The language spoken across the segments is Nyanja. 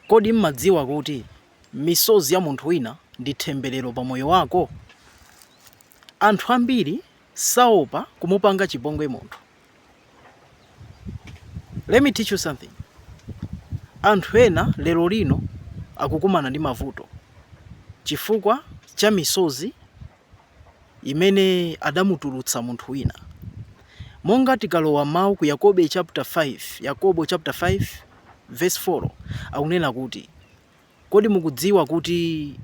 Kodi m'madziwa kuti misozi ya munthu wina ndi thembelero pa moyo wako? Anthu ambiri saopa kumupanga chipongwe munthu. Let me teach you something, anthu ena lero lino akukumana ndi mavuto chifukwa cha misozi. imene adamutulutsa munthu wina. Monga tikalowa m'mau ku Yakobe chapter 5, Yakobo chapter 5 verse 4 akunena kuti kodi mukudziwa kuti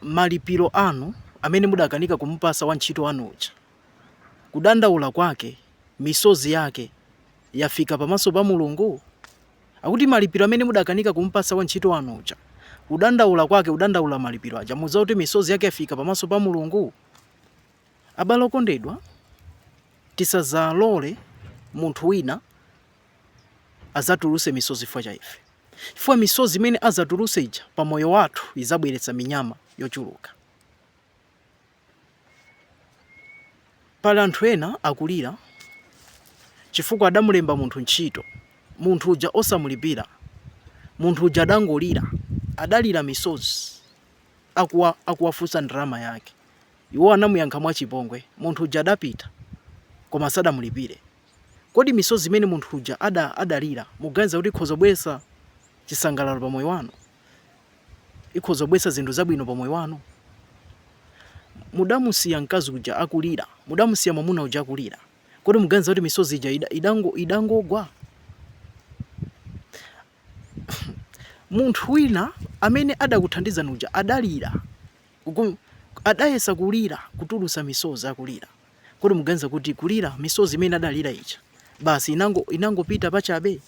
malipiro anu amene mudakanika kumupasa wantchito wanu uja, kudandaula kwake, misozi yake yafika pamaso pa Mulungu? Akuti malipiro amene mudakanika kumupatsa wantchito wanu uja. Kudandaula kwake kudandaula malipiro aja. Mudziwa kuti misozi yake yafika pamaso pa Mulungu? Abale okondedwa, tisadzalole munthu wina adzatulutse misozi chifukwa cha ife, chifukwa misozi imene adzatulutse ija pa moyo wathu idzabweretsa minyama yochuluka. Pali anthu ena akulira chifukwa adamulemba munthu ntchito, munthu uja osamulipira. Munthu uja adangolira, adalira misozi akuwafunsa ndalama yake. Iwo anamuyankha mwachipongwe. Munthu uja adapita, koma asadamulipire. Kodi misozi imene munthu uja adalira mukuganiza kuti ikhoza kubweretsa chisangalalo pa moyo wanu? ikhoza kubweretsa zinthu zabwino pa moyo wanu. Mudamusiya mkazi uja akulira, mudamusiya mwamuna uja akulira, kodi muganiza kuti misozi ija idangogwa? Munthu wina amene adakuthandizani uja adalira, adayesa kulira kutulusa misozi akulira, kodi muganiza kuti kulira misozi imene adalira ija basi inangopita pachabe?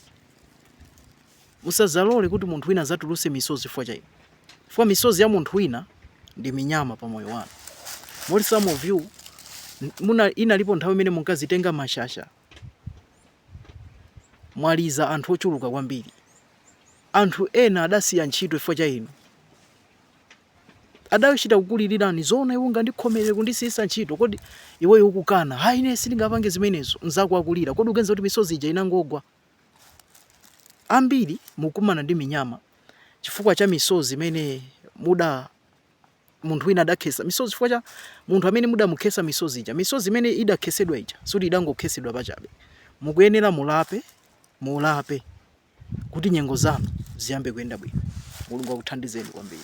Musadzalole kuti munthu wina adzatulutse misozi chifukwa cha inu, chifukwa misozi ya munthu wina ndi minyama pa moyo wanu. Moti some of you muna, inalipo nthawi imene munkazitenga mashasha mwaliza anthu ochuluka kwambiri. Anthu ena adasiya ntchito chifukwa cha inu adachita kukulilirani zoona iwo ngandikhomerere kundisiyisa ntchito kodi iweyo ukukana hayi ine sindingapange zimenezo mzako akulira kodi uganiza kuti misozi ija inangogwa Ambiri mukumana ndi minyama chifukwa cha misozi imene muda munthu wina adakhesa misozi chifukwa cha munthu amene mudamukhesa misozi ija. Misozi imene idakhesedwa ija sikuti idangokhesedwa pachabe, mukuyenera mulape, mulape kuti nyengo zanu ziyambe kuyenda bwino. Mulungu akuthandizeni kwambiri.